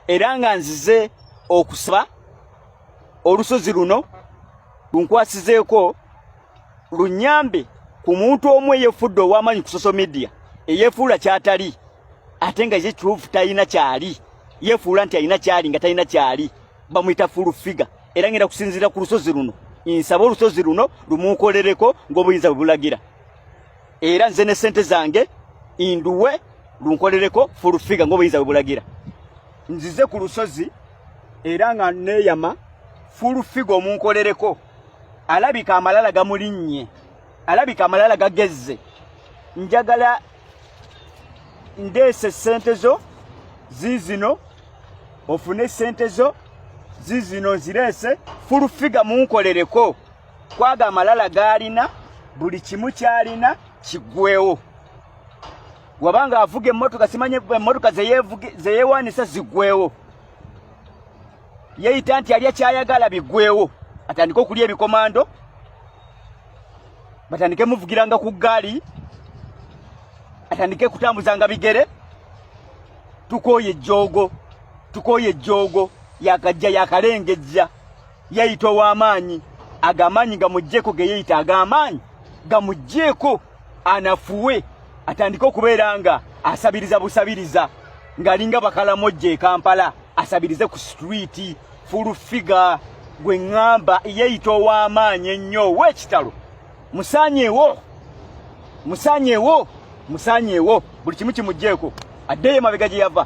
era nga nzize okusaba olusozi luno lunkwasizeeko lunyambe ku muntu omu eyefudde ow'amaanyi ku social media eyefuula kyatali ate nga ye kituufu talina kyali yefuula nti alina kyali nga talina kyali bamuyita full figure era ngenda kusinziira ku lusozi luno nsaba olusozi luno lumuukolereko ng'obuyinza bwe bulagira era nze ne sente zange induwe lunkolereko full figure ngoba inza bulagira nzize ku lusozi era nga neyama full figure omunkolereko alabika amalala gamulinnye alabika amalala gagezze njagala ndeese sente zo zizino ofune sente zo zizino nzireese full figure munkolereko kwago amalala gaalina buli kimu kyalina kigwewo wabanga avuga emmotoka simanye emmotoka zeyewanisa zigwewo yeyita nti alya kyayagala bigwewo atandike okulya ebikomando batandike muvugiranga ku ggaali atandike kutambuzanga bigere tukooye ejjoogo tukooye ejjoogo yakajja yakalengejja yeyita ow'amaanyi ago amaanyi gamuggyeko ge yeyita ag'amaanyi gamuggyeko anafuwe atandike okubeera nga asabiriza busabiriza ng'alinga bakalamojja e kampala asabirize ku situliiti fulufiga gwe ŋŋamba yeyita ow'amaanyi ennyo ow'ekitalo musaanyewo musaanyewo musaanyewo buli kimu kimuggyeko addeyo emabega gye yava